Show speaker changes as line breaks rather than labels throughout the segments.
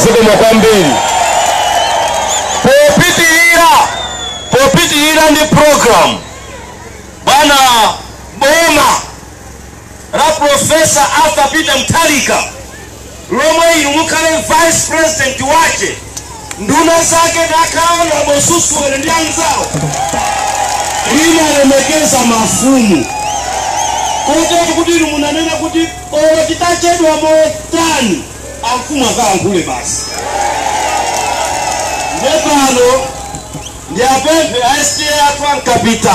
zikomo kwambiri popitirira popitirira ndi program bwana boma la Professor Arthur Peter Mutharika lomwe inu mukhale vice president wace nduna zake ndi a Honorable Susuwele ndi anzawo limalemekeza mafumu kotero kuti inu munanena kuti olo titachedwa motani amfumu akalankhule basi nde pano ndiwapemphe a STA athu a Nkapita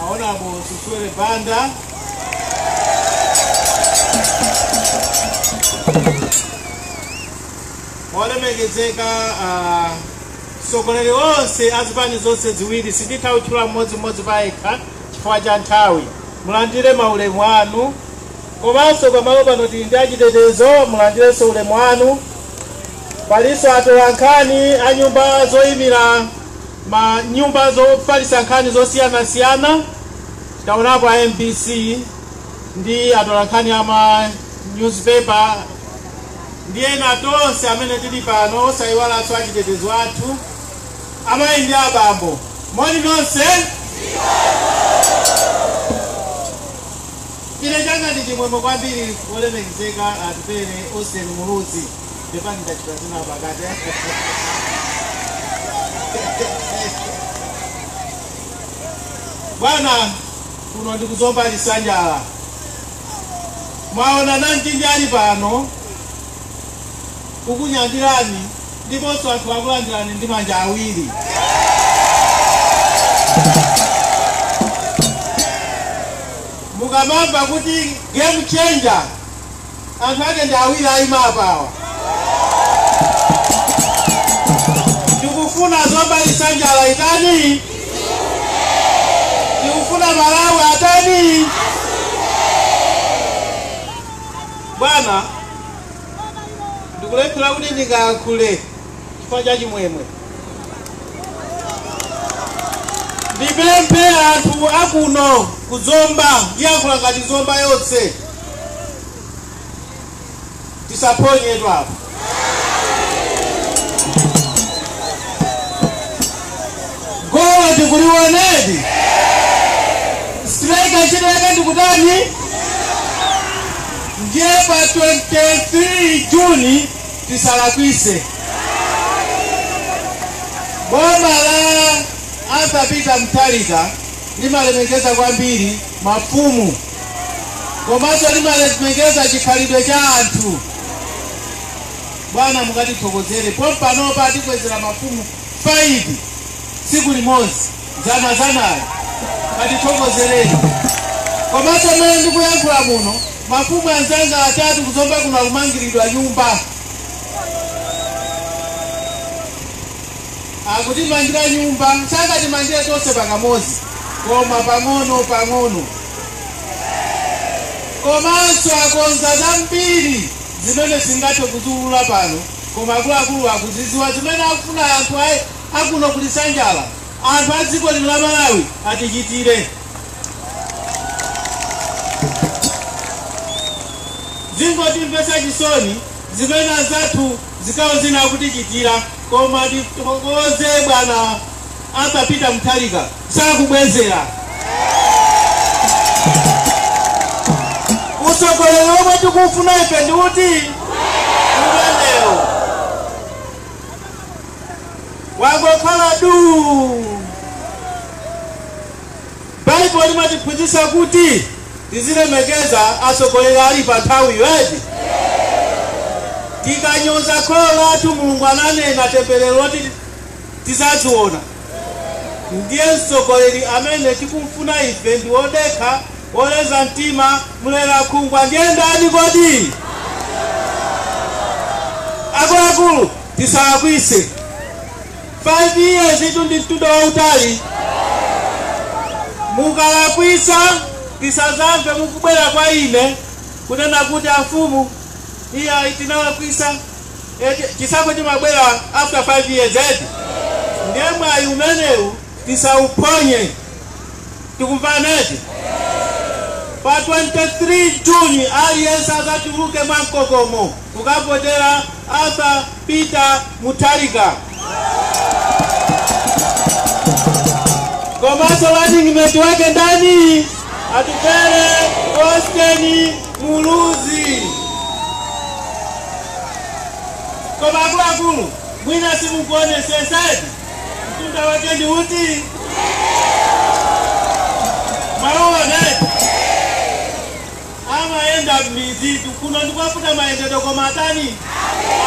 Honorable Susuwele Banda. olemekezeka atsogoleri onse azipani zonse ziwiri sinditha kutchula mmodzimmodzi payekha chifukwa cha nthawi mulandire maulemu anu komanso pamalo pano tili ndi achitetezo mulandirenso ulemu wanu palinso atolankhani a nyumba zoyimira ma nyumba zofalitsa nkhani zosiyanasiyana, taonapo a mbc ndi atolankhani a ma newspaper ndi ena tonse amene tili pano, osaiwalanso achitetezo athu, amayi ndi abambo, moni nonse. Ine changa ndi chimwemwe kwambiri olemekezeka Atupele Austin Muluzi. Pepani ndachita zina pakati. Bwana kuno ndi ku Zomba Lisanjala. Mwaona namtindi ali pano kukunyadirani ndiponso anthu akulandirani ndi manja awiri. Mukamamva kuti game changer Anthu ake ndi awiri aima apa awa. Tikufuna Zomba Lisanjala itani? Tikufuna Malawi atani? Bwana, ndikulephera kuti ndingayankhule. chifukwa cha chimwemwe. Ndipemphe anthu akuno ku Zomba, ndiyankhula ngati Zomba yonse, tisaphonyetu apa. Goal tikuliwonadi, striker ntchito yake ndikutani? Ndiye pa 23 Juni tisalakwitse boma la Arthur Peter Mutharika limalemekeza kwambiri mafumu komanso limalemekeza chikhalidwe cha anthu bwana mukatithokozere pompanopa tikwezera mafumu 5 tsiku limodzi dzana dzanayo katithokozereni komanso mmene ndikuyankhula muno mafumu anzanga atatu kuzomba kuno akumangiridwa nyumba akutimangira nyumba sangatimangire tonse pakamodzi koma pang'ono pang'ono komanso akonza zambiri zimene sindingathe kuziulula pano koma akuluakulu akuzidziwa zimene akufuna anthu awo akuno kuli nsanja ya anthu a dziko lino la malawi atichitire zikungotimvetsa chisoni zimene anzathu zigawo zina akutichitira koma tithokoze bwana Arthur Peter Mutharika sakubwezera utsogoleri omwe tikufuna ife ndi uti wangokhala duu baibulo limatiphunzitsa kuti tizilemekeza atsogoleri ali pa nthawi eti tikanyoza kholo lathu mulungu ananena temberero loti tizaziona Ndiye mtsogoleri amene tikumfuna ife ndi wodekha, woleza mtima, mlerakhungwa. Ndiye ndani kodi? APM, tisalakwitse. 5 years itu ndi mtunda wautali. Mukalakwitsa tisadzamve mukubwera kwa ine kunena kuti amfumu, iyayi tinalakwitsa. eti chisankho chimabwera after 5 years eti ndiye mwayi umenewu tisauphonye tikumvana eti pa 23 juni aliyense adzatuluke mwa mkokomo kukavotera arthur peter mutharika komanso running mate wake ndani Atupele Austin Muluzi koma akuluakulu mwina simukuonetsetsadi mtunda wake ndi uti mwaona Amayenda mmidzitu kuno ndikwavuta mayendedwe koma atani?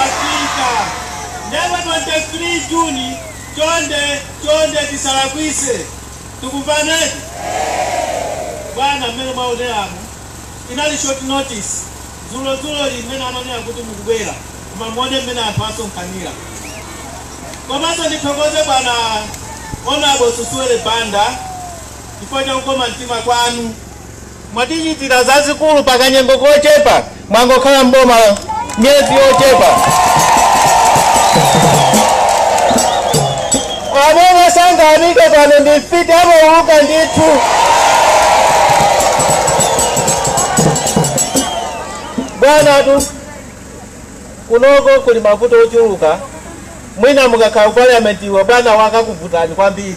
Afika. Nde pa twenty-three June chonde chonde tisalakwise. Tikumvanedi? Bwana mmene mwaoneramu inali short notice dzulo dzuloli mmene ananena kuti mukubwera koma muwone mmene anthu asonkhanira. Komanso ndithokoze bwana Hon. Susuwele Banda chifukwa cha kukoma mtima kwanu. Mwatichitira zazikulu pa kanyengo kochepa mwangokhala m'boma miyezi yochepa. Amene sangayamike pano ndi mfiti amauluka ndithu. Bwanatu kunoko kuli mavuto ochuluka, mwina mukakhala ku parliament awa bwana wakakuvutani kwambiri.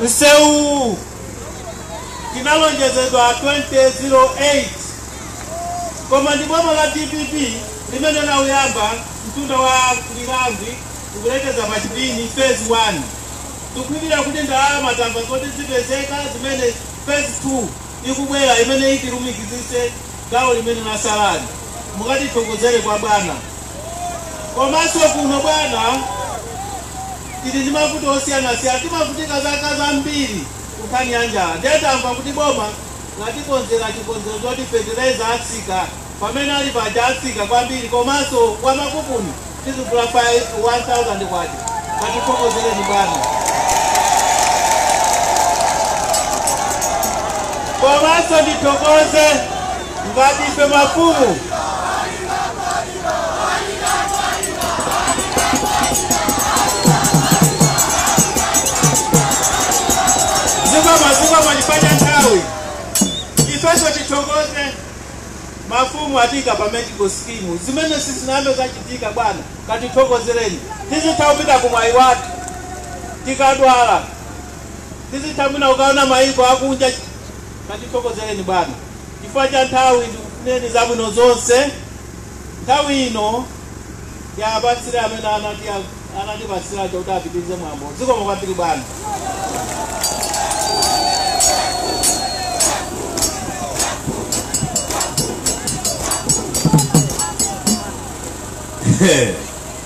Msewu Tinalonjezedwa 2008 koma ndi boma la dpp limene lauyamba mtunda wa Lirangwe ukulekeza pa Chipini phase 1. Tikudikira kuti ndalama tamva zoti zipezeka zimene phase 2 ikubwera imene itilumikizitse gawo limene latsalali. Mukatithokozere kwa bwana. Komanso kuno bwana. tili ndi mavuto osiyanasiyana, timavutika zaka zambiri ku nkhani ya njala ndiye tamva kuti boma latikonzera chikonzero choti fetereza atsika, pamene ali paja atsika kwambiri komanso wa makupuni tizigula pa 1000 kwacha. Tatifokozereni bwana. Komanso ndithokoze ngati ife mafumu mafumu atiika pa medical scheme zimene sizinachitikepo bwana katithokozereni tizitha kupita ku Mwaiwathu tikadwala tizitha mwina ukaona mayiko akunja katithokozereni bwana chifukwa cha nthawi ndikufunireni zabwino zonse Nthawi ino tiapatsire amene anatipatsira aja kuti apitirize mwambo. Zikomo kwambiri bwana. Hey.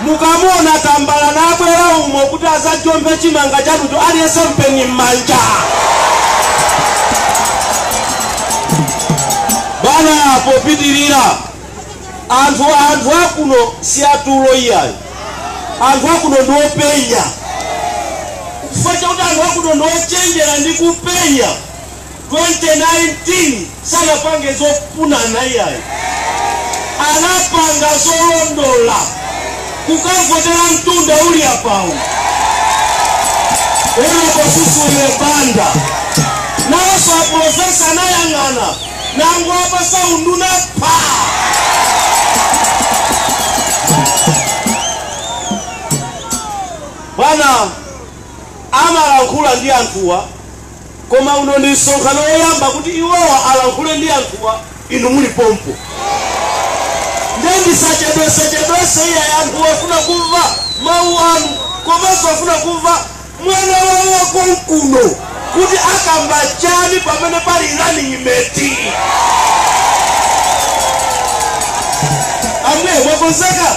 Mukamuona tambala nabwera umo kuti azajomphe chimanga chanucho aliyense mpeni mmanja. Bwana popitirira anthu akuno si atulo iyayi, anthu akuno ndi openya chifukwa chakuti anthu akuno ndi ochenjera ndi kupenya. 2019 sanapange zofunana iyayi anapanga zolondola kukavotera mtunda uli apawu unaposusuliwe banda nawoso a profesa anayang'ana namupatsa unduna pa bwana amalankhula ndi anthuwa koma uno ndi msonkhano woyamba kuti iwowa alankhule ndi anthuwa inu muli pompo ndiye ndisachedwesechedwese iyayi anthu afuna kumva mawu anu komanso afuna kumva mwana wawo wakonkuno kuti akamba chani pamene pali running mate akonzeka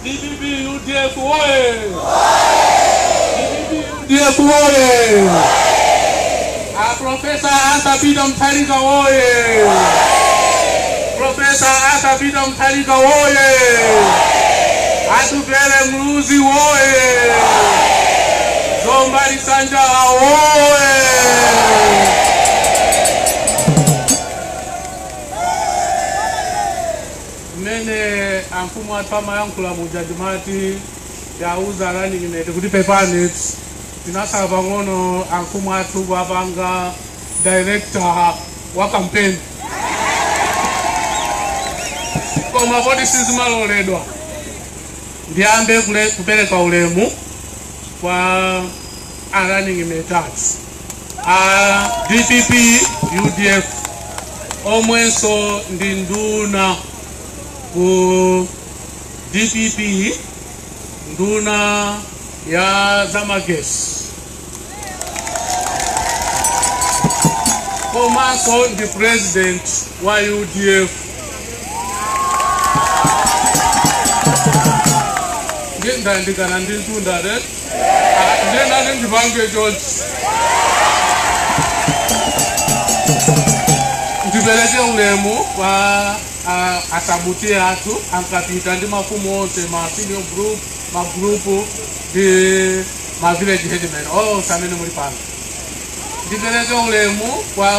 Dpp udf woyee! Dpp udf woyee! A Professor Arthur Peter Mutharika woyee! Professor Arthur Peter Mutharika woyee! Atupele Muluzi woyee! Zomba Lisanjala woyee! Mmene amfumu athu amayankhula muja ndimati ndiwauza running mate kuti pepani tinatsala pang'ono amfumu athu kuwapanga director wa campaign koma poti sizimaloledwa ndiyambe kule- kupereka ulemu kwa are running in the darts. Uh, DPP, UDF, omwenso ndi nduna ku DPP, nduna ya zamagesi. Komanso ndi president wa UDF. Ndi ndandikana ndi mtunda, right? ndiye nanenso ndipereke ulemu kwa ah, a Sub T/A athu a Nkapita ndi mafumu onse ma senior group ma group ndi ma village headmen onse amene muli pano ndipereke ulemu kwa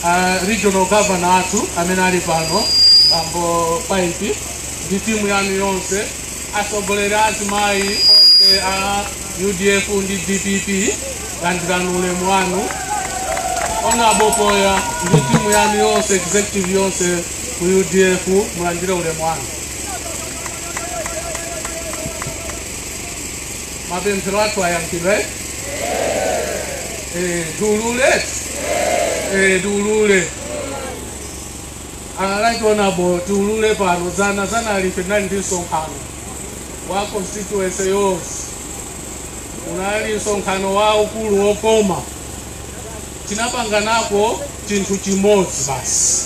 ah, regional governor athu amene ali pano bambo paipi ndi timu yanu yonse Atsogoleri a azimayi onse a udf ndi dpp landirani ulemu wanu honourable Poya ndi timu yanu yonse executive yonse ku udf mulandire ulemu wanu mapemphero athu ayankhidwe Eh, tiulule Eh, tiulule A Right Honourable tiulule pano dzana dzanali ife tinali ndi msonkhano wa constituency yonse, unali msonkhano waukulu wokoma, tinapanganapo chinthu chimodzi basi,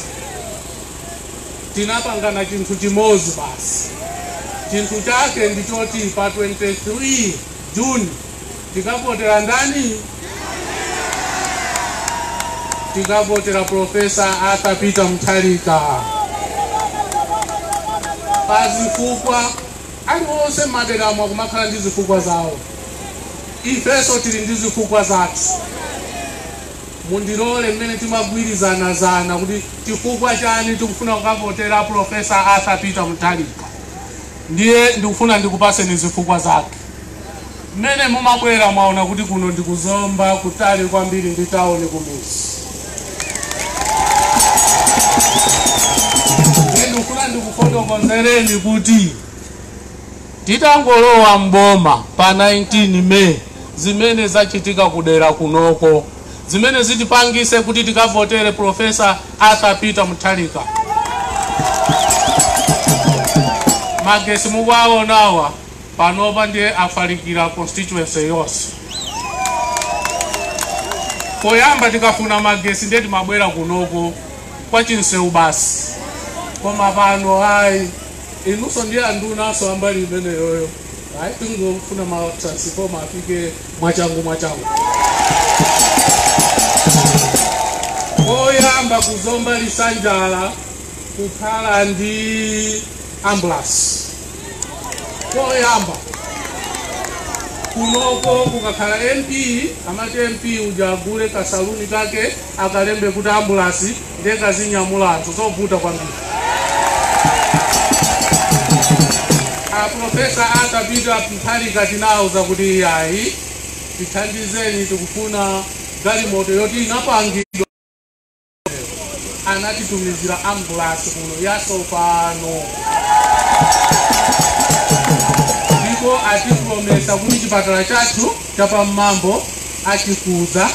tinapangana chinthu chimodzi basi, chinthu chake ndi choti pa 23 June Tikavotera ndani? Tikavotera Profesa Arthur Peter Mutharika pa zifukwa aliwonse m'maderamo akumakhala ndi zifukwa zawo, ifenso tili ndi zifukwa zathu. Mundilole mmene timagwirizana zana kuti chifukwa chani tikufuna kukavotera Profesa Arthur Peter Mutharika, ndiye ndikufuna ndikupaseni zifukwa zake. Mmene mumabwera mwaona kuti kuno ndi ku Zomba kutali kwambiri ndi town kumidzi. Ndiye ndikufuna ndikufotokozereni kuti titangolowa m'boma pa 19 May zimene zachitika kudera kunoko zimene zitipangise kuti tikavotere Professor Arthur Peter Mutharika. Magesi mukuwaonawa panopa ndiye afalikira constituency yonse. Poyamba tikafuna magesi ndiye timabwera kunoko kwa Chinsewu basi, koma pano ayi inunso ndiye andunanso ambali imeneyoyo ayi tikungofuna ma transformer afike mwachangu mwachangu. Koyamba ku Zomba Lisanjala kukhala ndi ambulasi koyamba kunoko kukakhala mp amati mp uja agule kasaluni kake akalembe kuti ambulasi ndiye kazinyamula anthu zovuta kwambiri a Profesa Arthur Peter Mutharika tinawauza kuti iyayi tithandizeni tikufuna galimoto yoti inapangidwa anatitumizira ambulasi kuno yatsopano ndipo atipulomisa kuti chipatala chathu cha pa Mmambo achikuza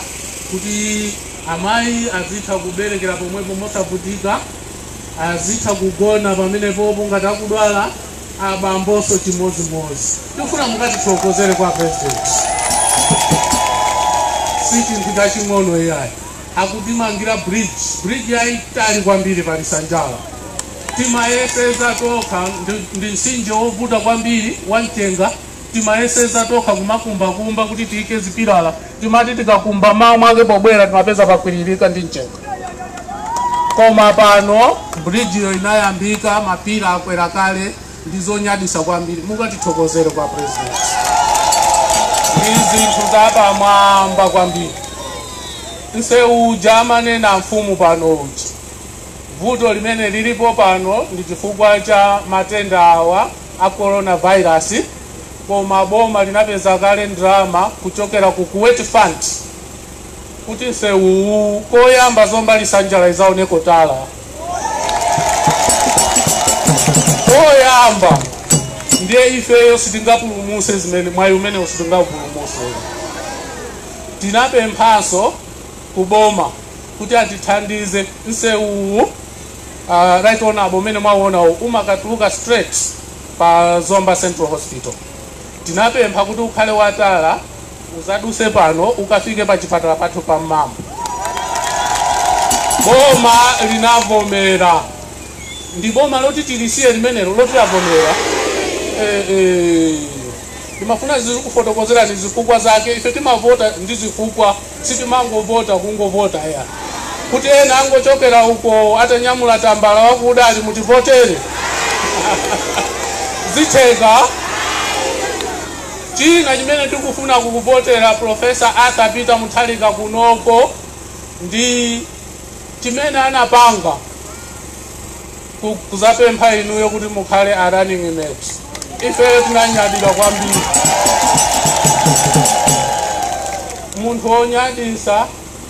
kuti amayi azitha kuberekera pomwepo mosavutika azitha kugona pamenepopo ngati akudwala abambonso chimodzimodzi tikufuna mukatithokozere kwa president si chinthu chaching'ono iyayi akutimangira bridge bridge yaitali kwambiri pa lisanjala timayeseza tokha ndi- ndi mtsinje wovuta kwambiri wa mchenga timayeseza tokha kumakumbakumba kuti tiike zipilala timati tikakumba mawa mwake pobwera timapeza pakwiririka ndi mchenga koma pano bridge yo inayambika mapila akwera kale ndi zonyadisa kwambiri mukatithokozere kwa president ndi zinthu zapamwamba kwambiri nsewu uja amanena mfumu pano uja vuto limene lilipo pano ndi chifukwa cha matenda awa a coronavirus koma boma linapeza kale ndalama kuchokera ku kuwait fund kuti nsewuwu koyamba zomba lisanjala izaoneko tala woyamba ndiye ifeyo sitingapulumutse zimene mwayi umenewo sitingapulumutse tinapemphanso kuboma kuti atithandize nsewuwu uh, right turn apo umene mwawonawo umakatuluka straight pa zomba central hospital tinapempha kuti ukhale watala Uzaduse pano ukafike pa chipatala pathu pa Mmambo. Boma linavomera. Ndi boma loti tilisiye limenelo loti lavomera. Eh, eh. Ndimafuna ndizikufotokozerani zifukwa zake. Ife timavota ndi zifukwa. Sitimangovota kungovota iyayi, kuti ena angochokera uko atanyamula tambala wakuda ati mutivotere. Zitheka? China chimene tikufuna kukuvotera Professor Arthur Peter Mutharika kunoko ndi chimene anapanga ku- kuzapempha inuyo kuti mukhale a running mate ifeyo tinanyadira kwambiri munthu wonyadisa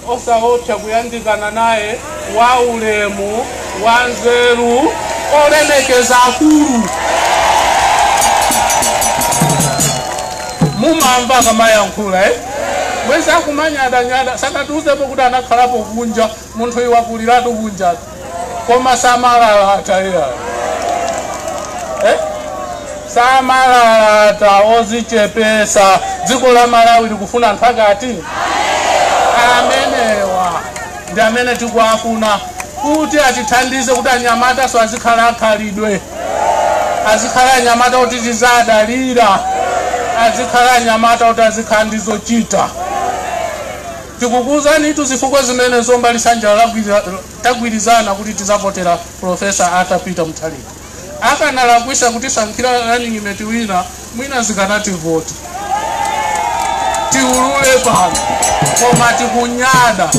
osaopsa kuyandikana naye wa ulemu wa nzeru olemekeza akulu mumamva akamayankhula eh? mwezi akumanyadanyada sanatiuzepo kuti anakhalapo kunja munthuyi wakuliratu kunja koma samalalata iyayi eh? samalalata ozichepesa dziko la malawi likufuna anthu ngati amenewa ndi amene tikuwafuna kuti atithandize kuti anyamatanso azikhala akhalidwe azikhala anyamata oti tizadalira azikhala anyamata oti azikhala ndizochita Tikukuuzanitu zifukwa zimene Zomba Lisanjala tagwirizana kuti tizavotera Prof Arthur Peter Mutharika. Akanalakwisa kutisankhira running mate wina mwina zikanativuta tiulule pano koma tikunyada.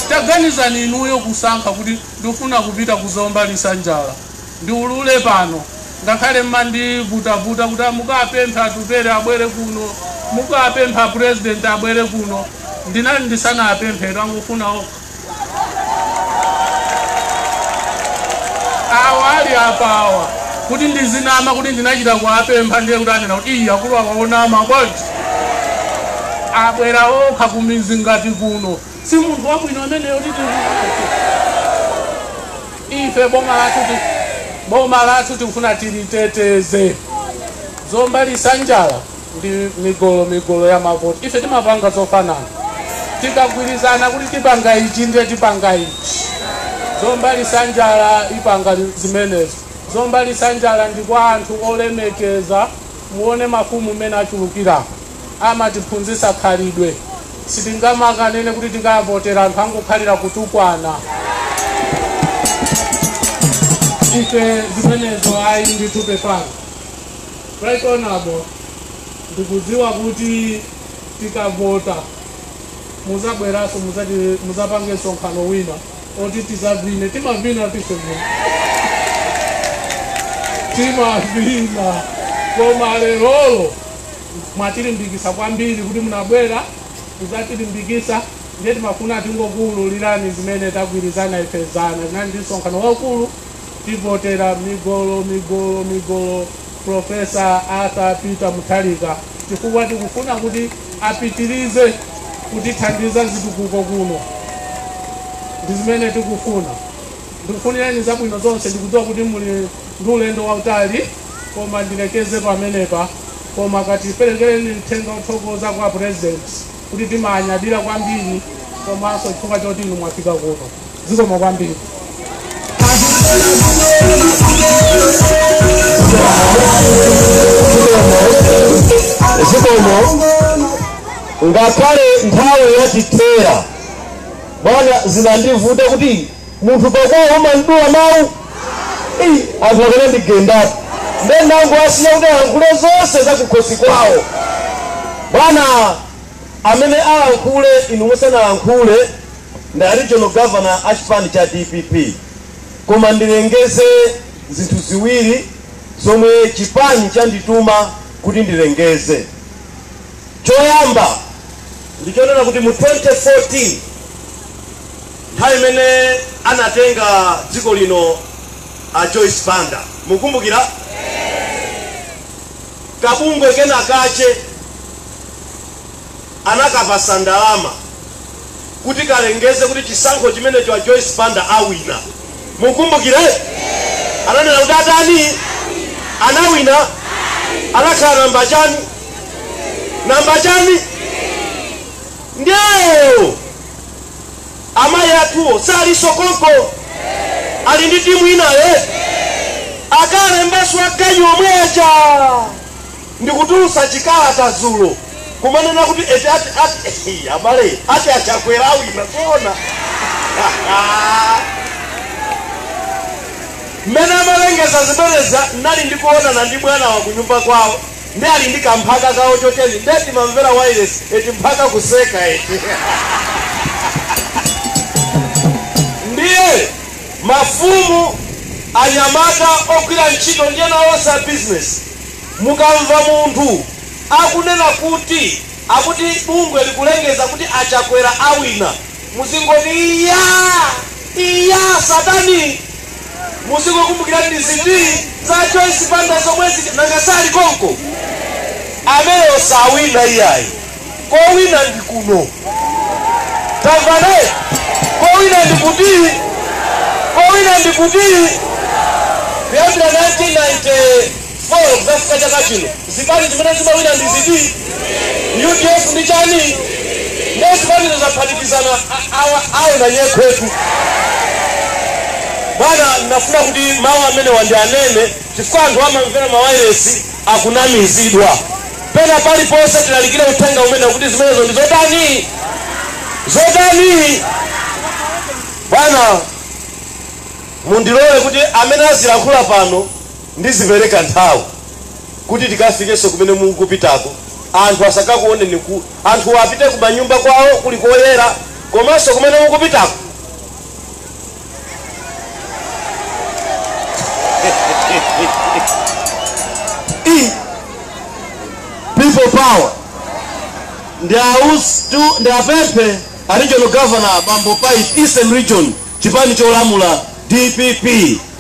Taganizani inuyo kusankha kuti ndifuna kupita ku Zomba Lisanjala. Ndiulule pano, ngakhale mmandivutavuta kuti mukapemphe Atupele abwere kuno, mukapemphe a President abwere kuno, ndinali ndisanawapemphetu, angofuna okha. Awa ali apawa, kuti ndizinama kuti ndinachita kuwapempha ndiye kuti adzanena kuti ii akulu awa onama bwanji. Abwera okha kumizi ngati kuno. Si munthu wabwino ameneyo kuti timusankhe. Ife boma lathu tikufuna tiliteteze. Zomba lisanjala ndi migolo migolo ya mavoti. Ife timapanga zofanana. Tikagwirizana kuti tipanga ichi ndiye tipanga ichi. Zomba lisanjala ipanga zimenezo. Zomba lisanjala ndi kwa anthu olemekeza. Muone mafumu mmene achulukira. amatiphunzitsa khalidwe. Sitingamakanene kuti tingakavotere anthu angokhalira kutukwana. Ife zimenezo ayi ndithu pepani. Right honorable, ndikudziwa kuti tikavota muzabweranso muzapange msonkhano wina oti tizavine timavina tife muno timavina koma lerolo mwatilimbikisa kwambiri kuti munabwera kuzatilimbikisa ndiye timafuna tingokuululirani zimene tagwirizana ife zana tinali ndi msonkhano waukulu tivotera migolo migolo migolo profesa arthur peter Mutharika chifukwa tikufuna kuti apitirize kutithandiza zitukuko kuno ndi zimene tikufuna Ndikufunireni zabwino zonse. Ndikudziwa kuti muli ndi ulendo wautali koma ndilekeze pamenepa koma katipelekereni mthenga wothokoza kwa president kuti timaanyadira kwambiri komanso chifukwa choti inu mwafika kuno. Zikomo kwambiri. zikomo ngakhale nthawi yatithera bwana zinandivuta kuti munthu pakwao umamdula mau? ii anthu akanandigendatu nde ndangowasiya kuti alankhule zonse zakukhosi kwao. Bwana amene alankhule inu musanalankhule ndi a regional governor a chipani cha dpp koma ndilengeze zinthu ziwiri zomwe chipani chandituma kuti ndilengeze. Choyamba ndichonena kuti mu 2014. Nthawi imene anatenga dziko lino a Joyce Banda mukukumbukira? Kabungwe kena kache anakapasa ndalama kuti kalengeze kuti chisankho chimenecho a Joyce Banda awina. Mukukumbukira? Ananena kuti atani? Anawina. Anakhala namba chani? Namba chani? Ndio. Amayi athuwo salinso konko? Ali ndi timu inayo eti? Akalembanso ganyu omwe aja. Ndikutulutsa chikalata dzulo kumanena kuti eti ati ati ehe, abale ati a Chakwera awina zoona. Mmene amalengeza zimenezi ndinali ndikuonana ndi bwanawa kunyumba kwawo. nde ali ndi kamphaka kawo choteni nde timamvera wireless eti mphaka kuseka eti ndiye mafumu anyamata ogwira ntchito ndiyenso onse a business mukamva munthu akunena kuti akuti bungweli likulengeza kuti a Chakwera awina muzingoti iya iya satani muzingokumbukira ndi zitsiru za joyce banda zomwezi nanga sali konko ameneyo sawina iyayi kowina ndi kuno tamvane kowina ndi kuti kowina ndi kuti kuyambira 1990 4 kudzafika chaka chino zipani zimene zimawina ndi ziti udf ndi chani nde zipanizo zaphatikizana a- awa awona nyekhwetu bwana nafuna kuti mawu amene ndianene chifukwa anthu amamvera mawayilesi akunamizidwa pena paliponse tilalikire uthenga umenewu kuti zimenezo ndi zotani zotani bwana mundilole kuti amene azilankhula pano Ndizipereka nthawi kuti tikafikenso kumene mukupitako. Anthu asakakuoneni ku. Anthuwo apite kumanyumba kwawo kuli koyera komanso kumene mukupitako. ii people power ndi aus tu ndiapepese a regional governor bambo pipe eastern region chipani cholamula dpp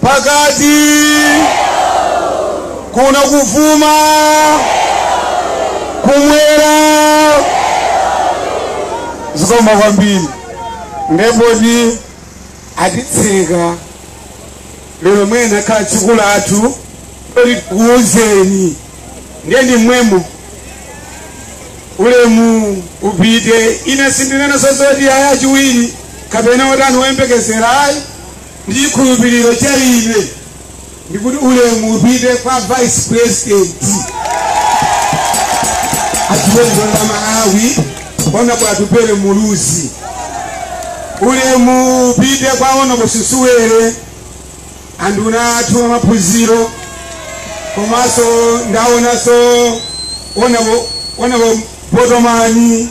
pakati kuno kuvuma kumwera zikomo kwambiri nde poti atitseka lero mwene akhala tsiku lathu loti tikuwuzeni ndiye ndi mmwemo ulemu upite ine sindinenanso zoti ayi achiwiri kapena otani woyembekezera ayi ndi chikhulupiriro cha ine ndikuti ulemu upite kwa vice president achiwenizo la malawi honourable Atupele Muluzi ulemu upite kwa honourable Susuwele anduna athu amaphunziro komanso ndaonanso honourable honourable Botomani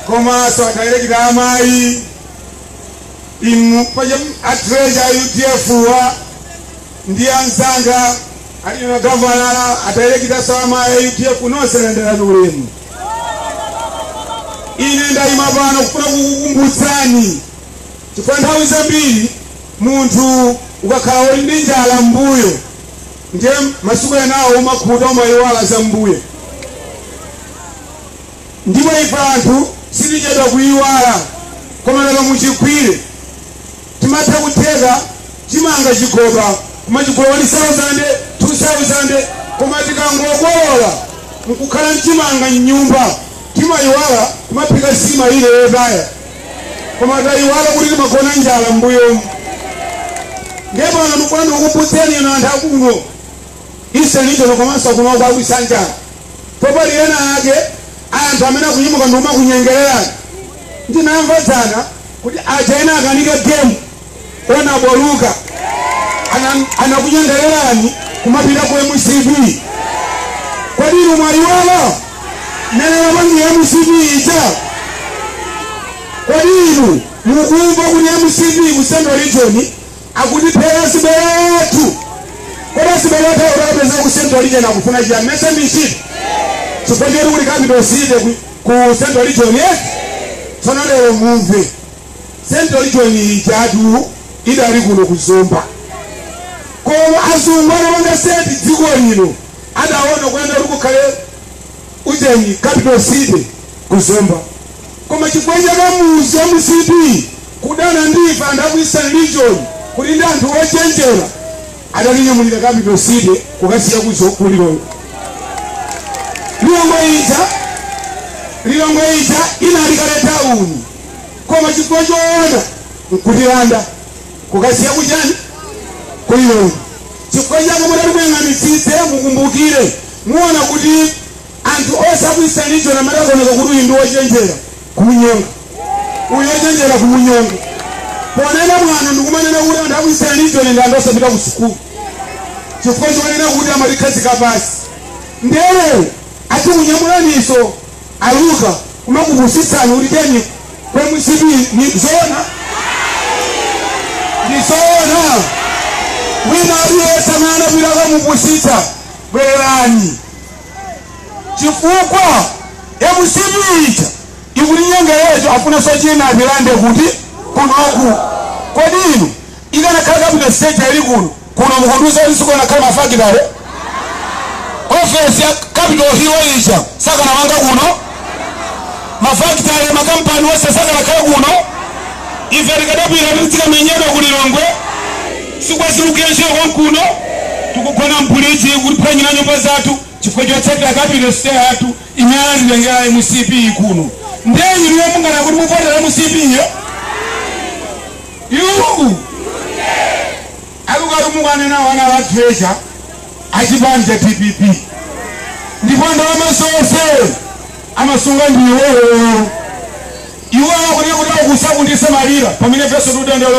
komanso a director a amayi Inu paja a treasurer a UDF wa ndi anzanga a regional governor a director a za amayi a UDF nonse landirani ulemu. Ine ndayima pano kufuna kukukumbutsani chifukwa nthawi zambiri munthu ukakhala uli ndi njala mbuyo ndiye masiku enawo umakhuta umayiwala za mbuyo Ndipo ife anthu sitichedwa kuyiwala koma lero muchigwire. Timatha kutheka chimanga chigoba kumachigula 1000, 2000 koma tikangokolola nkukhala nchimanga m'nyumba timayiwala kumaphika nsima ina yotaya koma tayiwala kuti timagona njala m'mbuyomu. Ndiye pano ndikufuna ndikukumbutseni inu anthu akuno Eastern Region komanso kuno kwa Wisanja po pali ena ake anthu amene akunyamuka ndi kumakunyengererani ndinamva dzana kuti aja ena akanika game honourable Luka Ana- anakunyengererani kumapita ku mcp kodi inu mwayiwala mmene imapangira mcp ija kodi inu mukumva kuti mcp ku central region akutiphera azibale athu kodi azibale athu akutapeza ku central region akufuna chiyani mesa michiti chifukwa choti kuli capital city ku- ku central region yes tsono lero mumve central region ijatu idali kuno ku Zomba koma azungu anapanga set dziko lino adaona kuyenera kuti kukhale ucheni capital city ku Zomba Koma chifukwa cha kamuzu a mcp kudana ndi ife anthu aku Eastern region kuti ndi anthu ochenjera adatinyamulira Capital city kukaisiya ku zo- ku Lilongwe. Lilongwe ija Lilongwe ija inali kale tauni koma chifukwa choona nkutilanda kukaisiya kuchani ku Lilongwe. Chifukwa chake mudati muyang'anitsitse mukumbukire muona kuti anthu onse aku eastern region amatiakaoneka kuti uyu ndi wochenjera kumunyonga uyu wochenjera kumunyonga ponena mwano ndikumanena kuti anthu aku eastern region ndi anthu osapita ku sukulu chifukwa chomanena kuti amatikhazika pansi lero akukunyamulaninso aluka kumakupusitsani kuti tiyeni kwa mcp ndi zoona ndi zoona wina aliyense mwana bila kamupusisa bwerani chifukwa mcp ija ikutinyengerera afunanso china atilande kuti kunoku kodi inu ikanakhala capital city yali kuno kuno mukundiuza kuti sikunakhala mafakitale ofesi ya capital hill ija sakanamanga kuno mafakitale makampani onse sakanakhala kuno ife tikadapita titikamenyedwa ku lilongwe Sibwenzi tikugwira ntchito konkuno tikugona apolisi ikutiphwanyila nyumba zathu chifukwa chotsatila capital city yathu imene anatitengela mcp kuno nde inuyo munganene kuti muvotela mcp yo? Yuu! Akuti mukanena anali a treasurer achipani cha dpp ndipo ndalama zonse amasunga ndi iwowo iwowo kunekuti akusakundisa malira pamene ifenso tidandaula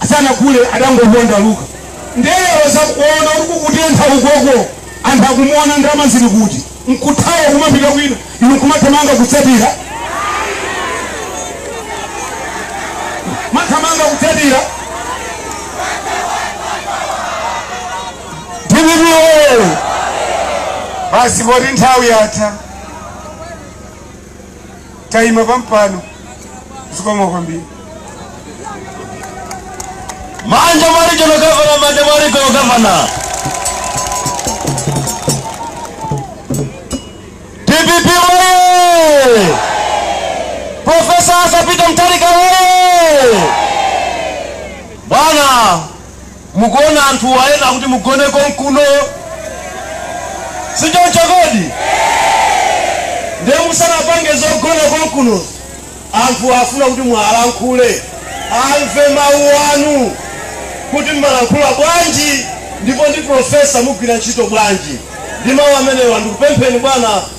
asanagule adangoponda luka nde lero akuona kuti kukutentha ukoko anthu akumuona ndalama zili kuti nkuthawa kumapita kwina inu kumathamanga kutsatira kumathamanga kutsatira Basi poti nthawi yatha taima pampano zikomo kwambiri manja mwa regional governor manja mwa regional governor dpp oye profesa Arthur Peter Mutharika oye bwana Mukuona anthuwa ena akuti mugone konkuno, si choncho kodi? Ndiye musanapange zogona konkuno, anthu afuna kuti muwalankhule, amve mawu anu kuti mmalankhula bwanji ndipo ndi profesa mugwira ntchito bwanji. Ndi mawu amenewa ndikupempheni bwana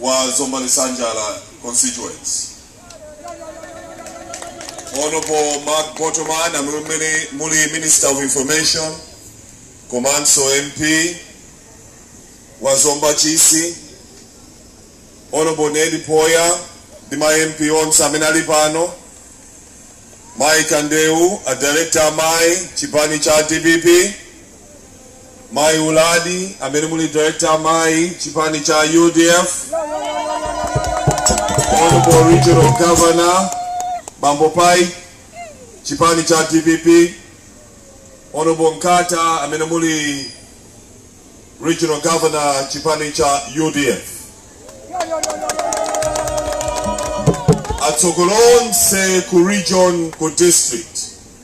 wa Zomba Lisanjala constituency Honorable Mark Botomani amene muli Minister of Information komanso MP wa Zomba Chisi Honorable Ned Poya ndi ma MP onse amene ali pano Mai Kandeu a director amai chipani cha DPP Mayi Uladi amene muli director amayi chipani cha UDF, Honorable Regional Governor Bambo Paipi chipani cha DPP, Honorable Nkata amene muli Regional Governor chipani cha UDF. Atsogoleri onse ku region ku district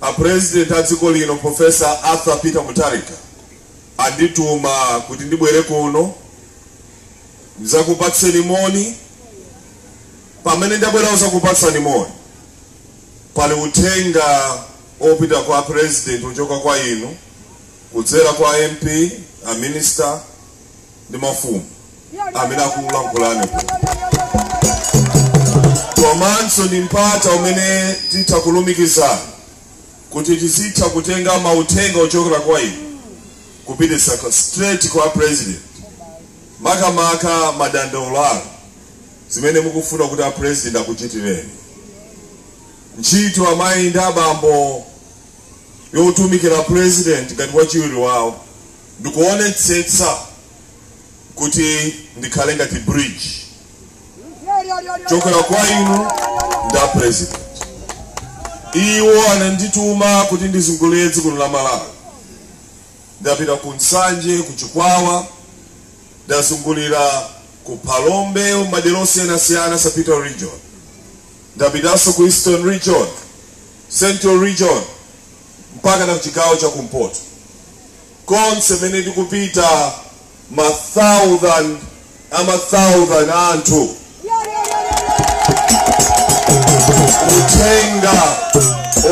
a president a dziko lino professor arthur peter mutharika andituma kuti ndibwere kuno ndizakupatseni moni pamene ndabwera kuzakupatsani moni pali uthenga opita kwa president kuchoka kwa inu kudzera kwa mp a minister ndi mafumu amene akulankhulani kuno komanso ndi mpata umene titha kulumikizana kuti tizitha kutenga mauthenga ochokera kwa inu kupitisa kwa- straight kwa president makamaka madandaulo anu zimene mukufuna kuti a president akuchitireni ntchito amayi ndi abambo yotumikira president ngati wachiwiri wawo Ndikuonetsetsa kuti ndikhale ngati bridge kuchokera kwa inu ndi a president. Iwo anandituma kuti ndizungulire dziko lino la Malawi. Ndapita ku Nsanje, ku Chikwawa, ndazungulira ku Phalombe, madera osiyanasiyana Southern region. Ndapitanso ku Eastern region, Central region, mpakana kuchigawo cha kumpoto konse mene ndikupita ma thousand ama thousand anthu uthenga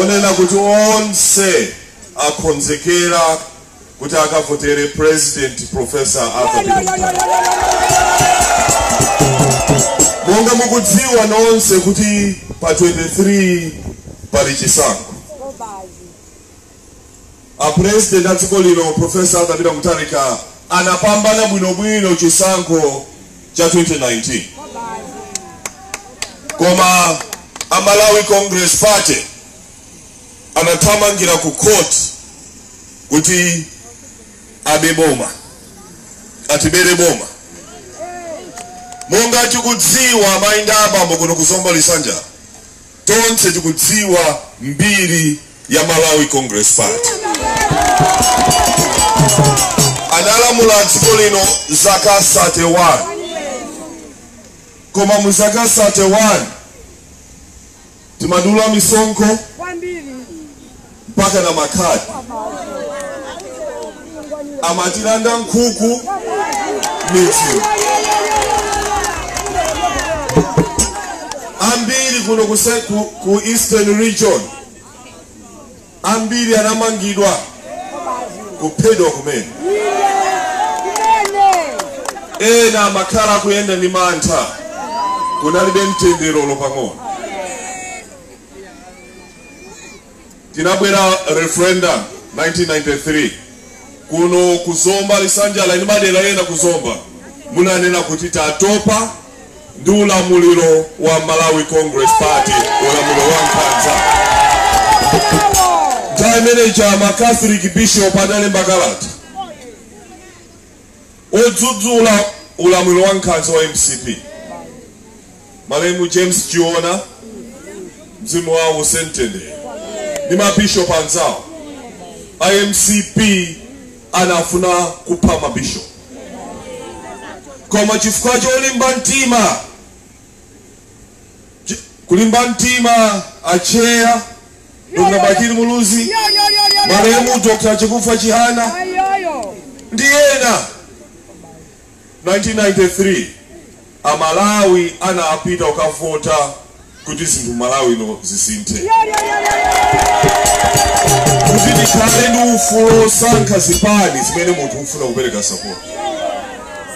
onena kuti onse akhonzekera kuti akavotere president professor arthur peter mutharika monga mukudziwa nonse kuti pa 23 pali chisankho a president a dziko lino professor arthur peter mutharika anapambana bwinobwino chisankho cha 2019 koma a malawi congress party anathamangira ku court kuti abe boma atibere boma. Monga tikudziwa amayi ndi abambo kuno ku zomba lisanjala tonse tikudziwa mbiri ya malawi congress party analamula dziko lino zaka 31 koma mu zaka 31 timadula misonkho mpaka na makhadi amatilanda nkhuku midzi yambiri kuno kuse- ku, ku eastern region ambiri anamangidwa kuphedwa kumene ena amakhala akuyenda ndi mantha kunalibe mtendere olo pang'ono inabwera referendum 1993 kuno ku Zomba lisanjala ndi madera ena ku Zomba munananena kuti tatopa ndi ulamuliro wa Malawi Congress Party ulamuliro wa nkhanza nthawi imene ma Catholic Bishop analemba kalata Odzudzula ulamuliro wa nkhanza wa mcp malemu James Chiona mzimu wawo uuse mtendere ndi mabishop anzawo a mcp anafuna kupha mabishop koma chifukwa cholimba mtima Kulimba mtima a Chair, Dr Bakili Muluzi, malemu Dr Chakufwa Chihana ndi ena. 1993 a Malawi anapita kukavota kuti zinthu m'Malawi ino zisinthe, kuti tikhale ndi ufulu wosankha zipani zimene munthu ufuna kupereka sapoti,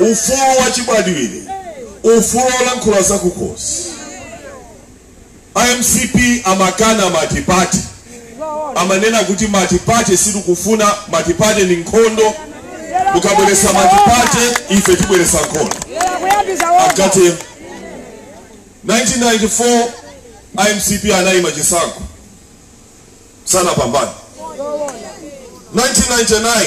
ufulu wachibadwidwe. ufulu olankhula zakukhosi a mcp amakana matipate amanena kuti matipate sitikufuna matipate ni nkhondo mukabweresa matipate ife tibweresa nkhondo akatero 1994 a mcp anayima chisankho sanapambane 1999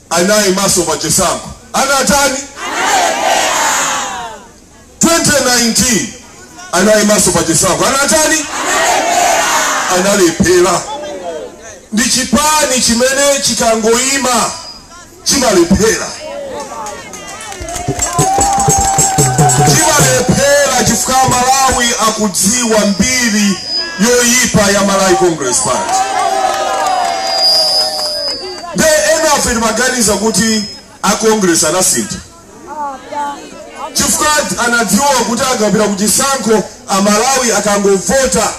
anaimanso pa chisankho anatani 2019 anaimanso pa chisankho anatani analephera ndi chipani chimene chikangoima chimalephera chipani amalephera chifukwa amalawi akudziwa mbiri yoyipa ya malawi congress party nde ena afe timaganiza kuti a congress anasintha chifukwa anadziwa kuti akapita kuchisankho amalawi akangovota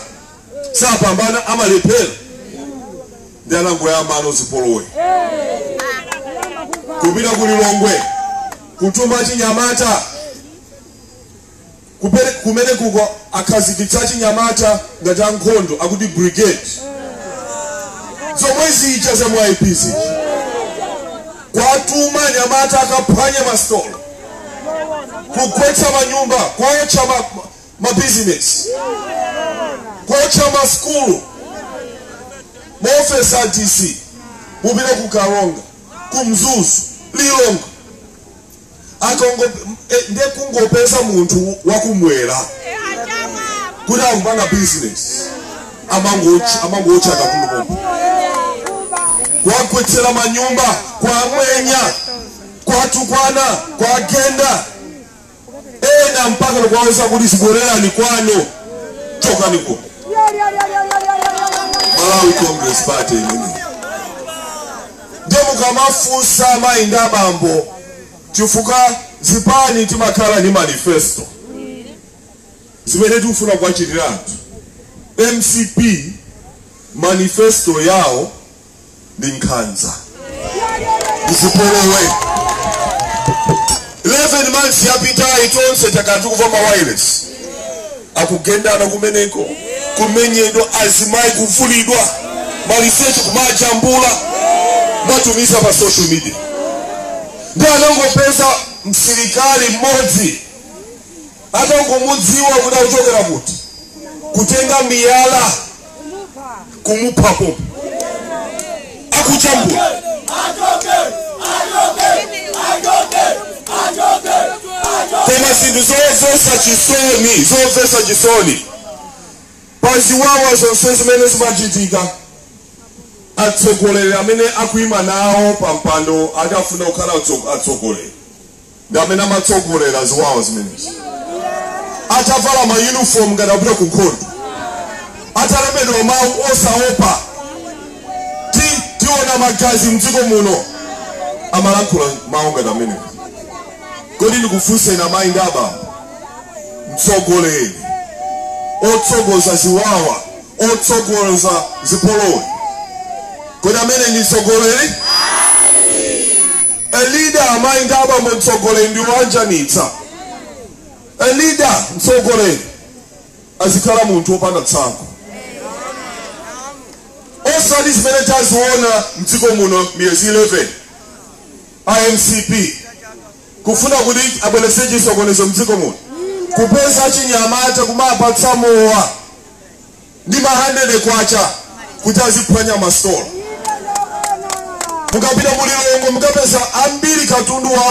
sapambana amalephera nde anangoyambano zipolowe kupita ku lilongwe kutuma achinyamata kupere- kumene kuko akhazikitsa achinyamata ngati ankhondo akuti brigade zomwe zija za ma MYP kuwatuma anyamata akaphwanya masitolo kugwetsa manyumba kuotcha ma- mabizinesi kuotcha masukulu maofesi a dc mupite ku karonga ku mzuzu lilongwe a kongeresi eh, ndiye kungopeza munthu wakumwera kuti akupanga bizinesi amangootcha amangootcha katundu pompo kuwagwetsera manyumba kuwamwenya kuwatukwana kuwagenda ena mpaka ndikuwauza kuti zibwererani kwanu chokani kuno malawi congress party imeneyi ndiye mukamafunsa amayi ndi abambo chifukwa zipani timakhala ndi manifesto zimene tikufuna kuwachitira anthu mcp manifesto yawo ndi nkhanza ndi zipolowe 11 months yapitayi tonse takati kumva ma wireless akugendana kumeneko kumenyedwa azimayi kuvulidwa maliseche kumajambula kumatumiza pa social media nde anangopeza msilikali mmodzi Osamudziwa kuti akuchokera kuti, kutenga miyala kumupha pompo, akujambula koma zinthu zomvetsa chisoni, zomvetsa chisoni pa ziwawa zonse zimene zimachitika atsogoleri amene akuima nawo pa mpando ati akufuna kukhala atso- atsogoleri ndi amene amatsogolera ziwawa zimenezi atavala ma uniform ngati akupita ku nkhondo atalembedwa mawu osaopa ti tiona magazi mdziko muno amalankhula mawu ngati amenewo kodi ndikufunseni amayi ndi abambo mtsogoleri otsogoza ziwawa otsogoza zipolowe kodi ameneyo ndi mtsogoleri A leader Amayi ndi abambo mtsogoleri ndi oanjanitsa A leader mtsogoleri azikhala munthu opanda tsankho osati zimene taziona mdziko muno miyezi 11 a mcp kufuna kuti abweretse chisokonezo mdziko muno kupeza achinyamata kumapatsa mowa ndi ma 100 kwacha kuti aziphwanya masitolo mukapita ku lilongwe mukapeza ambiri katundu wa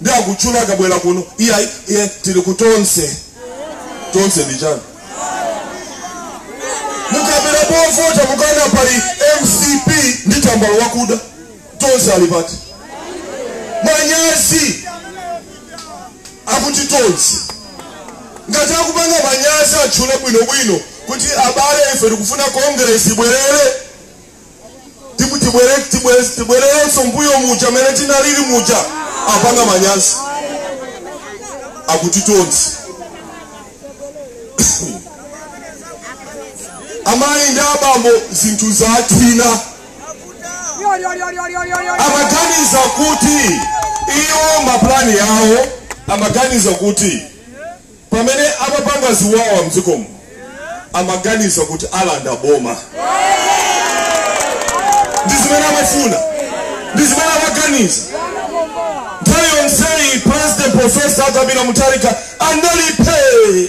ndi akutchula akabwera kuno iyayi tili ku tonse tonse ndi chani mukabwera povota mukaona pali mcp ndi tambala wakuda tonse ali pati manyazi akuti tonse ngati akupanga manyazi atchule bwinobwino kuti abale ife tikufuna kongresi ibwerere tibwererenso mbuyo muja mmene tinalili muja apanga manyazi akuti tonse amayi ndi abambo zinthu zathina amaganiza kuti iwo mapulani yawo amaganiza kuti pamene amapanga ziwawa mdzikomo amaganiza kuti alanda boma ndi zimene amafuna ndi zimene amaganiza nthawi yonseyi president profesa arthur peter mutharika anali phe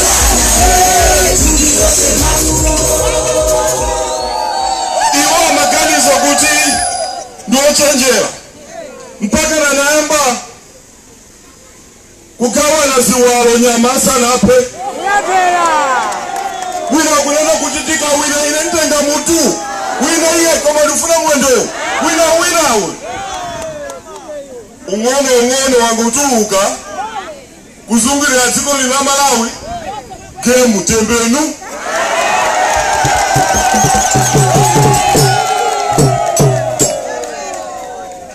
iwo amaganiza kuti ndi ochenjera mpakana anayamba kugawana ziwalo nyama asanaphe wina kunena kuti tikawina ine ntenga mutu wina iye koma ndifuna mwendowu wina winawe ung'ono ung'ono wangotuluka kuzungulira dziko lino la Malawi game tembenu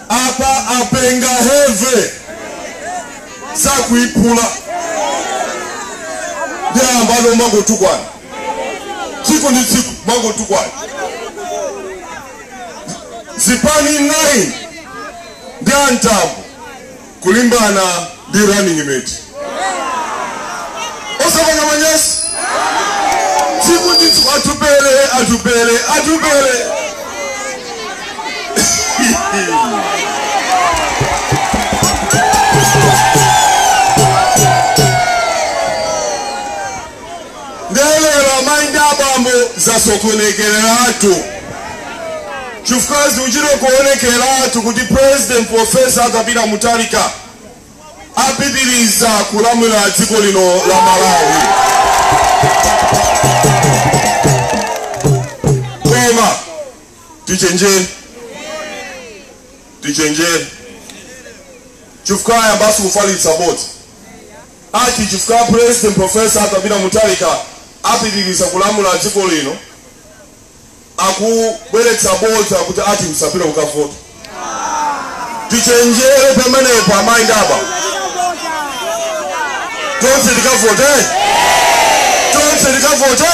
apa apenga heve sakuiphula ndiye pano amangotukwana tsiku ndi tsiku amangotukwana zipani 9 ndi antambo kulimbana ndi running mate osapanga manyazi tsiku ndi tsiku atupele atupele atupele nde lero amai ndi abambo zasokonekeratu chifukwa zikuchita kuonekeratu kuti president professor arthur peter mutharika apitiriza kulamula dziko lino la malawi koma tichenjere tichenjere chifukwa ayambaso kufalitsa bodza Ati chifukwa president professor Arthur Peter Mutharika apitiliza kulamula dziko lino akubweretsa bodza kuti ati msapite kukavota. Tichenjere pamenepo amayi ndi abambo. Tonse tikavote? Tonse tikavote?